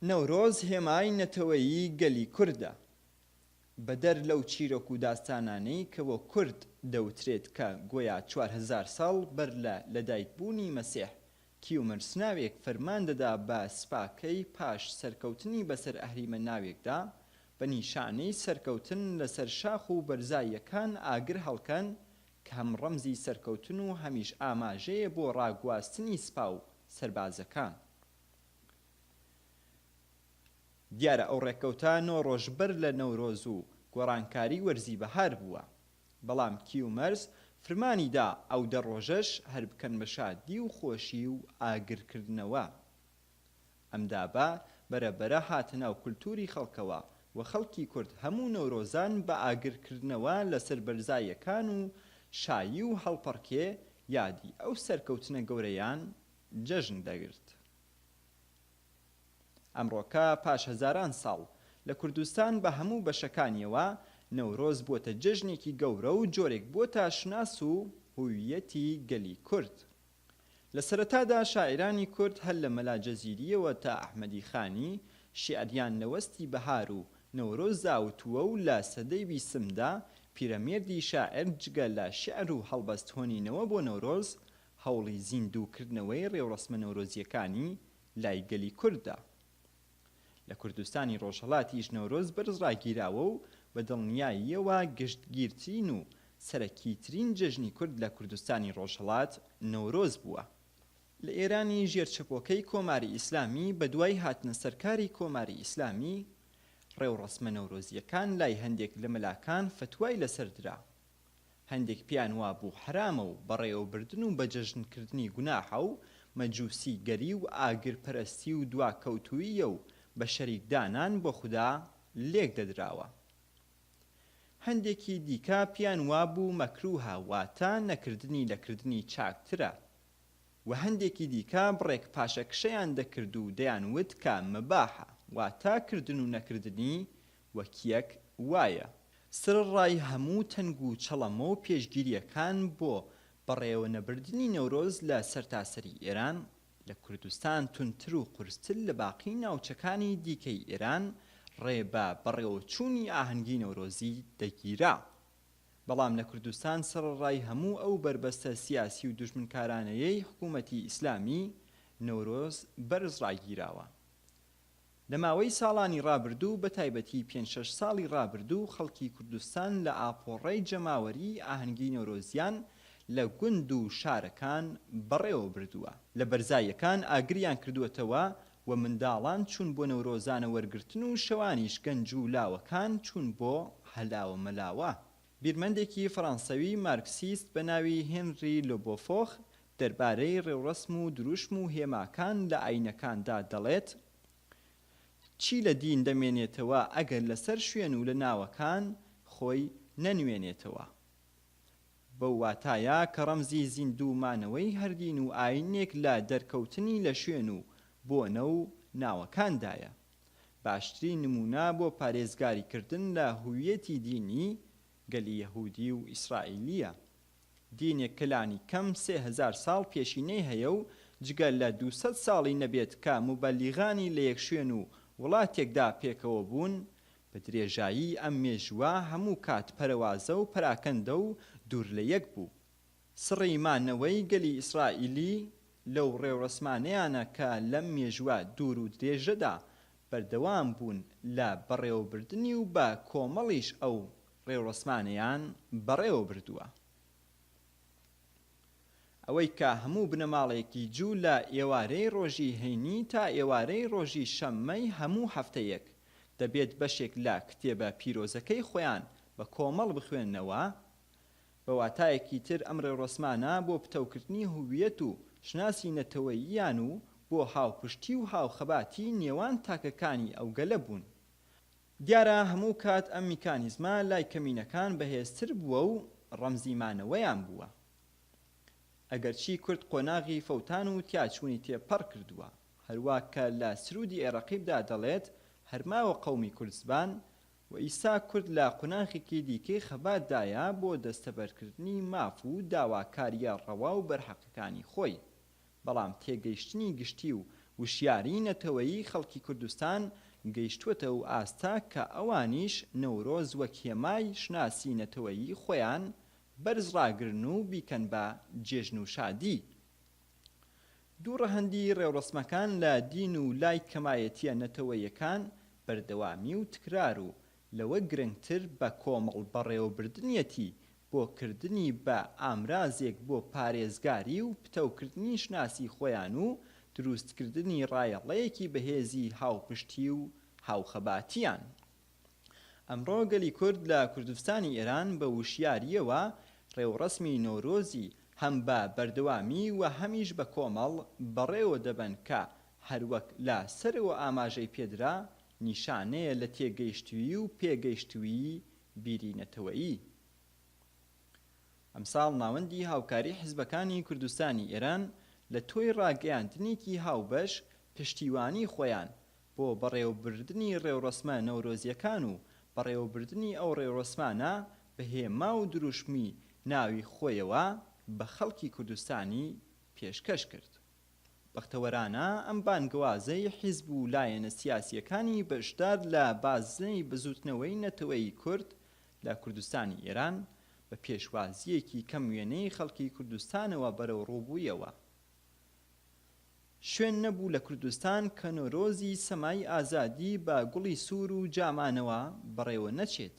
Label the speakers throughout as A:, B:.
A: نەورۆز هێمای نەتەوەیی گەلی کوردە. بەدەر لەو چیرۆک و داستانانەی کە بۆ کورد دەوترێت کە گۆیا چوار هەزار ساڵ بەر لە لەدایکبوونی مەسیح کیومرس ناوێک فەرمان دەدا بە سپاکەی پاش سەرکەوتنی بەسەر ئەهریمە ناوێکدا بە نیشانەی سەرکەوتن لەسەر شاخ و بەرزاییەکان ئاگر هەڵکەن کە هەم ڕەمزی سەرکەوتن و هەمیش ئاماژەیە بۆ ڕاگواستنی سپا و سەربازەکان. دیارە ئەو ڕێککەوتە نۆ ڕۆژ بەر لە نەورۆز و گۆڕانکاری وەرزی بەهار بووە، بەڵام کیومەرس فرمانی دا ئەو دە ڕۆژەش هەر بکەن بە شادی و خۆشی و ئاگرکردنەوە. ئەم دابە بەرە بەرە هاتە ناو کولتووری خەڵکەوە و خەڵکی کورد هەموو نەورۆزان بە ئاگرکردنەوە لەسەر بەرزاییەکان و شایی و هەڵپەڕکێ یادی ئەو سەرکەوتنە گەورەیان جەژن دەگرت. ئەمڕۆکە پاش هەزاران ساڵ، لە کوردستان بە هەموو بەشەکانییەوە، نەورۆز بووەتە جەژنێکی گەورە و جۆرێک بووەتە شوناس و هووییەتی گەلی کورد. لە سەرەتادا شاعیرانی کورد هەر لە مەلا جزیرییەوە تا ئەحمەدی خانی، شیعریان لە وەستی بەهار و نەورۆزدا وتووە و لە سەدەی بیسمدا پیرەمێردی شاعیر جگە لە شیعر و هەڵبەست هۆنینەوە بۆ نەورۆز، هەوڵی زیندوو کردنەوەی ڕێوڕەسمە نەورۆزییەکانی لای گەلی کورددا. لە کوردستانی ڕۆژهەڵاتیش نەورۆز بەرز ڕاگیراوە و بە دڵنیاییەوە گشتگیرترین و سەرەکیترین جەژنی کورد لە کوردستانی ڕۆژهەڵات نەورۆز بووە. لە ئێرانی ژێر چەپۆکەی کۆماری ئیسلامی بە دوای هاتنە سەر کاری کۆماری ئیسلامی، ڕێوڕەسمە نەورۆزییەکان لای هەندێک لە مەلاکان فەتوای لەسەر درا. هەندێک پێیان وابوو حەرامە و بەڕێوەبردن و بەجەژن کردنی گوناحە و مەجوسی گەری و ئاگر پەرەستی و دواکەوتووییە و بە شەریک دانان بۆ خودا لێک دەدراوە هەندێکی دیکە پێیان وابوو مەکرووهە واتە نەکردنی لە کردنی چاکترە وە هەندێکی دیکە بڕێک پاشەکشەیان دەکرد و دەیان وت کە مباحە واتە کردن و نەکردنی وەکیەک وایە سەرەڕای هەموو تەنگ و چەڵەمە و پێشگیریەکان بۆ بەڕێوەنەبردنی نەورۆز لە سەرتاسەری ئێران، لە کوردستان توندتر و قورستر لە باقی ناوچەکانی دیکەی ئێران ڕێ بە بەڕێوەچوونی ئاهەنگی نەورۆزی دەگیرا. بەڵام لە کوردستان سەرەڕای هەموو ئەو بەربەستە سیاسی و دوژمنکارانەیەی حکوومەتی ئیسلامی، نەورۆز بەرز ڕاگیراوە. لە ماوەی ساڵانی ڕابردوو بە تایبەتی پێنج شەش ساڵی ڕابردوو خەڵکی کوردستان لە ئاپۆڕای جەماوەریی ئاهەنگی نەورۆزیان لە گوند و شارەکان بەڕێوە بردووە، لە بەرزاییەکان ئاگریان کردووەتەوە و منداڵان چوون بۆ نەورۆزانە وەرگرتن و شەوانیش گەنج و لاوەکان چوون بۆ هەلاوە مەلاوە. بیرمەندێکی فەڕانسەوی مارکسیست بە ناوی هێنری لۆبۆفۆخ دەربارەی ڕێوڕەسم و دروشم و هێماکان لە ئایینەکاندا دەڵێت، چی لە دین دەمێنێتەوە ئەگەر لەسەر شوێن و لە ناوەکان خۆی نەنوێنێتەوە؟ بەو واتایە کە ڕەمزی زیندوو مانەوەی هەر دین و ئایینێک لە دەرکەوتنی لە شوێن و بۆنە و ناوەکاندایە. باشترین نموونە بۆ پارێزگاری کردن لە هوییەتی دینی گەلی یەهوودی و ئیسرائیلییە. دینێک کە لانی کەم سێ هەزار ساڵ پێشینەی هەیە و جگە لە دوو سەد ساڵی نەبێت کە موبەلیغانی لە یەک شوێن و وڵاتێکدا پێکەوە بوون، بە درێژایی ئەم مێژووە هەموو کات پەرەوازە و پەراکەندە و دوور لە یەک بوو. سڕی ما نەوەی گەلی ئیسرائیلی لەو ڕێوڕەسمانەیانە کە لەم مێژوە دوور و درێژەدا بەردەوام بوون لە بەڕێوەبردنی و بە کۆمەڵیش ئەو ڕێوڕەسمانەیان بەڕێوە بردوە. ئەوەی کە هەموو بنەماڵەیەکی جوو لە ئێوارەی ڕۆژی هەینی تا ئێوارەی ڕۆژی شەممەی هەموو هەفتەیەک دەبێت بەشێک لە کتێبە پیرۆزەکەی خۆیان بە کۆمەڵ بخوێننەوە بە واتایەکی تر ئەم ڕێوڕەسمانە بۆ پتەوکردنی هوویەت و شوناسی نەتەوەییان و بۆ هاوپشتی و هاوخەباتی نێوان تاکەکانی ئەو گەلە بوون. دیارە هەموو کات ئەم میکانیزمە لای کەمینەکان بەهێزتر بووە و ڕەمزی مانەوەیان بووە. ئەگەرچی کورد قۆناغی فەوتان و تیاچوونی تێپەڕ کردووە، هەروا کە لە سروودی ئێ ڕەقیبدا دەڵێت، هەر ماوە قەومی کوردزبان، و ئیستا کورد لە قوناخێکی دیکەی خەبات دایە بۆ دەستەبەرکردنی ماف و داواکارییە ڕەوا و بەرحەقەکانی خۆی. بەڵام تێگەیشتنی گشتی و وشیاریی نەتەوەیی خەڵکی کوردستان گەیشتووەتە و ئاستە کە ئەوانیش نەورۆز وەک هێمای شوناسی نەتەوەیی خۆیان بەرز ڕاگرن و بیکەن بە جێژن و شادی دوو ڕەهەندی ڕێوڕەسمەکان لە دین و لای کەمایەتیە نەتەوەییەکان بەردەوامی و تکرار و لەوە گرنگتر بە کۆمەڵ بەڕێوەبردنیەتی بۆ کردنی بە ئامرازێک بۆ پارێزگاری و پتەوکردنی شناسی خۆیان و دروستکردنی ڕایەڵەیەکی بەهێزی هاوپشتی و هاوخەباتیان ئەمڕۆ گەلی کورد لە کوردستانی ئێران بە وشیارییەوە ڕێوڕەسمی نەورۆزی هەم بە بەردەوامی و هەمیش بە کۆمەڵ بەڕێوە دەبەن کە هەروەک لە سەرەوە ئاماژەی پێدرا نیشانەیە لە تێگەیشتووی و پێگەیشتووی بیری نەتەوەیی ئەمساڵ ناوەندی هاوکاری حیزبەکانی کوردستانی ئێران لە تۆی ڕاگەیاندنێکی هاوبەش پشتیوانی خۆیان بۆ بەڕێوەبردنی ڕێوڕەسمە نەورۆزییەکان و بەڕێوەبردنی ئەو ڕێوڕەسمانە بە هێما و دروشمی ناوی خۆیەوە بە خەڵکی کوردستانی پێشکەش کرد. بەختەوەرانە ئەم بانگەوازەی حیزب و لایەنە سیاسییەکانی بەشدار لە بازنەی بزووتنەوەی نەتەوەیی کورد لە کوردستانی ئێران بە پێشوازییەکی کەم وێنەی خەڵکی کوردستانەوە بەرەوڕووبوویەوە شوێن نەبوو لە کوردستان کە نۆرۆزی سەمای ئازادی بە گوڵی سوور و جامانەوە بەڕێوە نەچێت.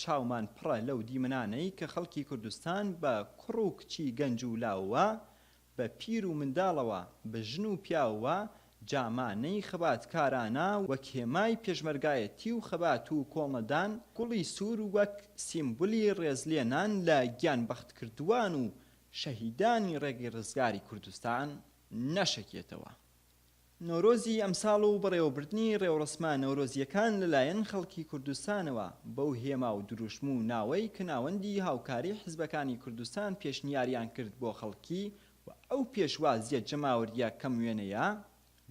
A: چاومان پڕە لەو دیمەنانەی کە خەڵکی کوردستان بە کوڕ و کچی گەنج و لاوەوە، بە پیر و منداڵەوە، بە ژن و پیاوەوە جامانەی خەباتکارانە وەک هێمای پێشمەرگایەتی و خەبات و کۆڵنەدان، گوڵی سوور وەک سیمبولی ڕێزلێنان لە گیانبەختکردووان و شەهیدانی ڕێگەی ڕزگاری کوردستان نەشەکێتەوە. نەورۆزی ئەمساڵ و بەڕێوەبردنی ڕێوڕەسمە نەورۆزییەکان لەلایەن خەڵکی کوردستانەوە بەو هێما و دروشم و ناوەی کە ناوەندی هاوکاری حیزبەکانی کوردستان پێشنیاریان کرد بۆ خەڵکی و ئەو پێشوازییە جەماوەرییە کەم وێنەیە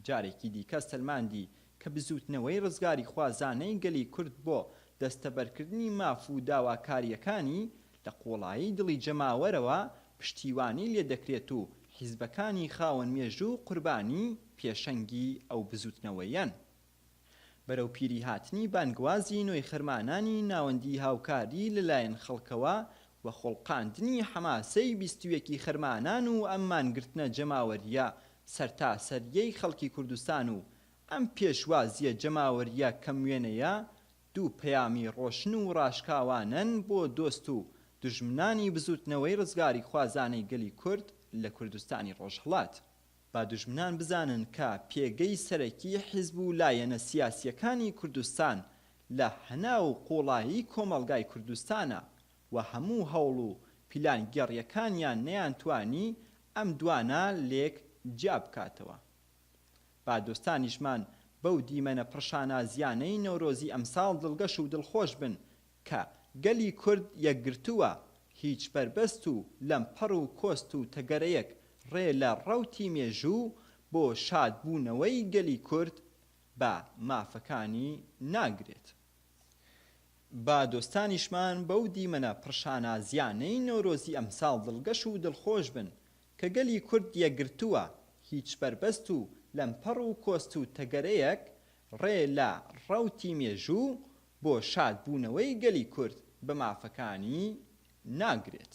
A: جارێکی دیکە سەلماندی کە بزووتنەوەی ڕزگاریخوازانەی گەلی کورد بۆ دەستەبەرکردنی ماف و داواکارییەکانی لە قوڵایی دڵی جەماوەرەوە پشتیوانی لێدەکرێت و حیزبەکانی خاوەن مێژوو قوربانی پێشەنگی ئەو بزووتنەوەیەن. بەرەو پیریهاتنی بانگوازی نوێخرمانانی ناوەندی هاوکاری لەلایەن خەڵکەوە و خوڵقاندنی حەماسەی بیست و یەکی خەرمانان و ئەم مانگرتنە جەماوەرییە سەرتاسەرییەی خەڵکی کوردستان و ئەم پێشوازییە جەماوەرییە کەموێنەیە دوو پەیامی ڕۆشن و ڕاشکاوانەن بۆ دۆست و دوژمنانی بزووتنەوەی ڕزگاریخوازانەی گەلی کورد لە کوردستانی ڕۆژهەڵات. با دوژمنان بزانن کە پێگەی سەرەکی حیزب و لایەنە سیاسییەکانی کوردستان لە هەناو و قوڵایی کۆمەڵگای کوردستانە و هەموو هەوڵ و پیلانگێڕییەکانیان نەیانتوانی ئەم دوانە لێک جیا بکاتەوە. با دۆستانیشمان بەو دیمەنە پڕشانازییانەی نەورۆزی ئەمساڵ دڵگەش و دڵخۆش بن کە گەلی کورد یەکگرتووە، هیچ بەربەست و لەمپەڕ و کۆست و تەگەرەیەک ڕێ لە ڕەوتی مێژوو بۆ شادبوونەوەی گەلی کورد بە مافەکانی ناگرێت. با دۆستانیشمان بەو دیمەنە پڕشانازییانەی نەورۆزی ئەمساڵ دڵگەش و دڵخۆش بن، کە گەلی کورد یەکگرتووە، هیچ بەربەست و لەمپەڕ و کۆست و تەگەرەیەک ڕێ لە ڕەوتی مێژوو بۆ شاد بوونەوەی گەلی کورد بە مافەکانی ناگرێت.